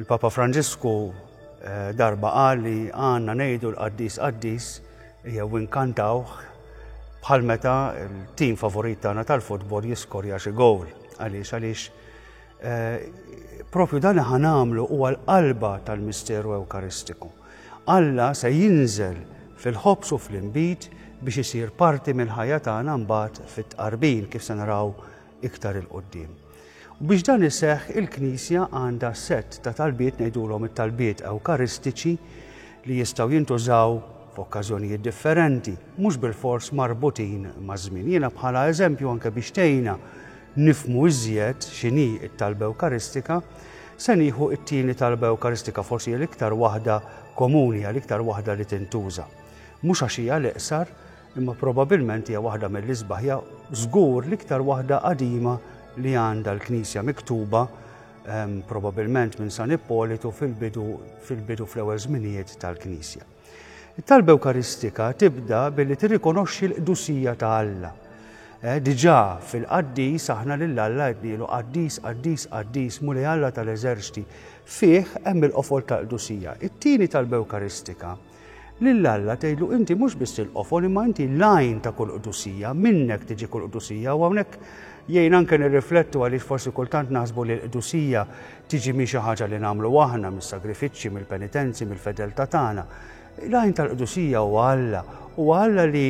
Il-Papa Franġisku darba qal li għandna ngħidu l-qaddis qaddis jew inkantawh bħal meta l-tim favorit tagħna tal-futbol jiskorja xi gowl. Għaliex għaliex eh, propju dan ħanamlu huwa l-qalba tal-misteru Ewkaristiku. Alla se jinżel fil-ħobs u fl-imbit biex isir parti mill-ħajja tagħna mbagħad fit-tqarbin kif se naraw iktar 'il quddiem. U biex dan iseħħ il-Knisja għandha sett ta' talbiet ngħidulhom it-talbiet ewkaristiċi li jistgħu jintużaw f'okkażjonijiet differenti, mhux bil-fors marbutin maż-żmien. Jiena bħala eżempju anke biex tgħinna nifmu iżjed x'inhi t-talba ewkaristika, se nieħu t-tieni talba ewkaristika forsi l-iktar waħda komuni għal iktar waħda li tintuża. Mhux għax hija l-iqsar, Imma probabilment hija waħda mill-isbaħ, hija żgur l-iktar waħda qadima li għandha l-Knisja miktuba ehm, probabilment minn San Ippolitu fil-bidu fil-bidu fl-ewwel żminijiet tal-Knisja. It-talba Ewkaristika tibda billi tirrikonoxxi l-qdusija ta' Alla Eh, diġà fil-qaddis aħna lil Alla qednielu qaddis, qaddis, qaddis, muli Alla tal-eżerċti. Fih hemm il-qofol tal-qdusija. It-tieni tal-Bewkaristika Lil Alla tgħidlu inti mhux biss il-qofol imma inti l-għajn ta' kull qdusija, minnek tiġi kull qdusija u hawnhekk jgħin anke nirriflettu għaliex forsi kultant naħsbu li l-qdusija tiġi minn xi ħaġa li nagħmlu aħna, mis-sagrifiċċji, mill-penitenzi, mill-fedeltà tagħna. L-għajn tal-qdusija huwa Alla, huwa Alla li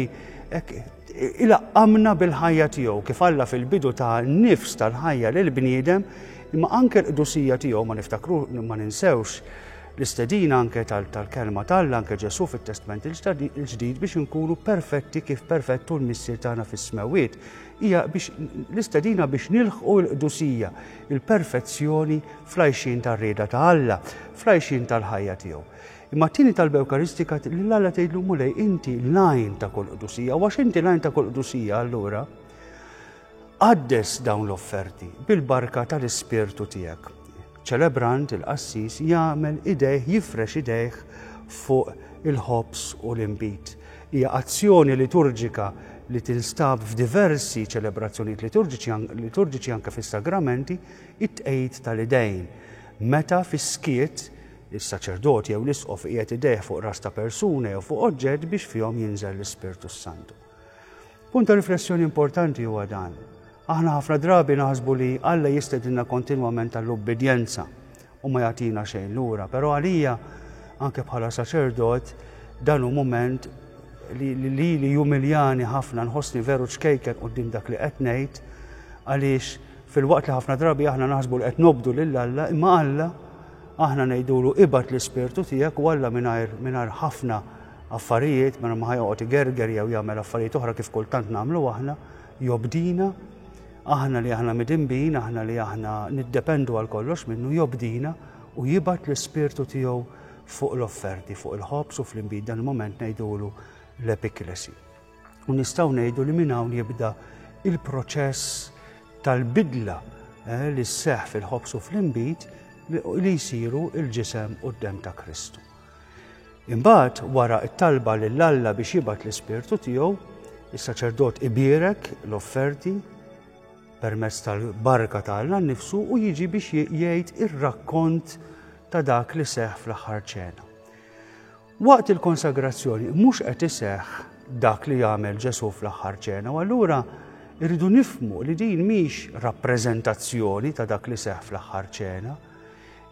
ilaqqamna bil-ħajja tiegħu kif Alla fil-bidu ta' nifs tal-ħajja lil bniedem imma anke l-qdusija tiegħu ma niftakru ma ninsewx L-istedina anke tal-Kelma t'Alla, anke Ġesù fit-Testment il-Ġdid biex inkunu perfetti kif perfett hu l-Missier tagħna fis-Smewwiet, hija biex l-istedina biex nilħqu l-qdusija, il-perfezzjoni fl-għajxien tar-rieda ta' Alla, fl-għajxien tal-ħajja tiegħu. Imma t-tieni talba Ewkaristika lil Alla tgħidlu Mulej inti l-għajn ta' kull qdusija, u għax inti l-għajn ta' kull qdusija allura, Qaddes dawn l-offerti bil-barka tal-Ispirtu tiegħek. Ċelebrant il-qassis jagħmel idejh jifrex idejh fuq il-ħobż u l-inbid. Hija azzjoni liturġika li tinstab f'diversi ċelebrazzjonijiet liturġiċi anke fis-sagramenti, it-tqegħid tal-idejn. Meta fis-skiet is-saċerdot jew l-isqof iqiegħed idejh fuq ras ta' persuna jew fuq oġġett biex fihom jinżel l-Ispirtu s-Santu. Punt ta' riflessjoni importanti huwa dan. Aħna ħafna drabi naħsbu li Alla jistedinna kontinwament għall-ubbidjenza u ma jagħtina xejn lura, però għalija, anke bħala saċerdot, dan hu mument li lili jumiljani ħafna nħossni veru ċkejken quddiem dak li qed ngħid għaliex filwaqt li ħafna drabi aħna naħsbu li qed nobdu lil Alla, imma Alla aħna ngħidulu ibad l-ispirtu tiegħek u Alla mingħajr mingħajr ħafna affarijiet, mingħajr ma ħa joqgħod igerger jew jagħmel affarijiet oħra kif kultant nagħmlu aħna, jobdina, aħna li aħna midinbin, aħna li aħna niddependu għal kollox minnu, jobdina u jibgħat l-Ispirtu tiegħu fuq l-offerti, fuq il-ħobż u fl-inbid dan il-moment ngħidulu l-epiklesi. U nistgħu ngħidu li minn hawn jibda il-proċess tal-bidla eh, li sseħħ fil-ħobż u fl-inbid li jsiru il-ġisem u d-dem ta' Kristu. Imbagħad, wara t-talba lil Alla biex jibgħat l-Ispirtu tiegħu, is-saċerdot ibierek l-offerti permezz tal-barka ta' Alla nnifsu u jiġi biex jgħid ir-rakkont ta' dak li seħħ fl-aħħar ċena. Waqt il-konsagrazzjoni mhux qed iseħħ dak li jagħmel Ġesu fl-aħħar ċena, u allura irridu nifmu li din mhix rappreżentazzjoni ta' dak li seħħ fl-aħħar ċena,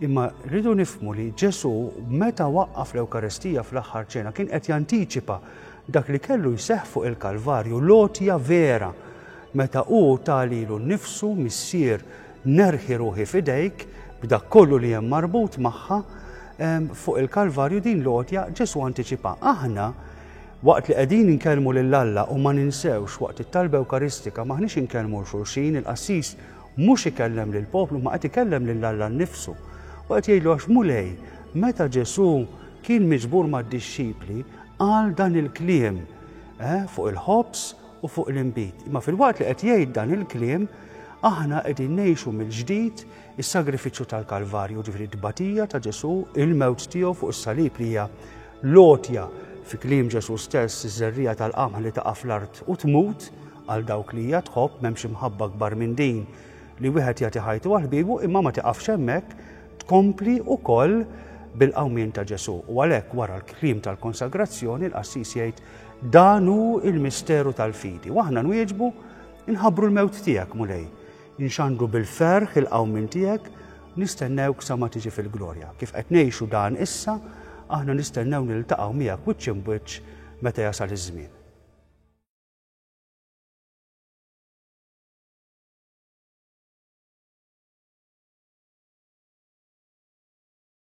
Imma rridu nifhmu li Ġesù meta waqqaf l-Ewkaristija fl-aħħar ċena kien qed jantiċipa dak li kellu jseħħ fuq il-Kalvarju, l-għotja vera. Meta hu talilu nnifsu missier nerħi ruħi f'idejk b'dak kollu li hemm marbut magħha fuq il-Kalvarju din l-għotja Ġesù antiċipa. Aħna waqt li qegħdin inkellmu lil Alla u ma ninsewx waqt it-talba Ewkaristika maħniex inkellmu l xulxin il-qassis Mhux ikellem lill-poplu, imma qed ikellem lil Alla nnifsu. U qed jgħidlu għax Mulej, meta Ġesù kien miġbur mad-dixxipli, qal dan il-kliem fuq il-ħobż u fuq l-inbid. Imma filwaqt li qed jgħid dan il-kliem, aħna qegħdin ngħixu mill-ġdid is-sagrifiċċju tal-Kalvarju, ġifieri t-tbatija ta' Ġesù, il-mewt tiegħu fuq is-salib li hija L-għotja, fi kliem Ġesù stess, iż-żerriegħa tal-qamħ li taqa' fl-art u tmut, għal dawk li hija tħobb, m'hemmx imħabba akbar minn din, li wieħed jagħti ħajtu għal ħbiebu, imma ma tiqafx hemmhekk, tkompli wkoll bil-qawmien ta' Ġesù. U għalhekk wara l-kliem tal-konsagrazzjoni l-qassis jgħid dan hu l-misteru tal-fidi. U aħna nwieġbu nħabbru l-mewt tiegħek, Mulej. Inxandru bil-ferħ il-qawmien tiegħek, nistennewk sa ma tiġi fil-glorja. Kif qed ngħixu dan issa, aħna nistennew niltaqgħu miegħek wiċċ imbwiċċ meta jasal iż-żmien.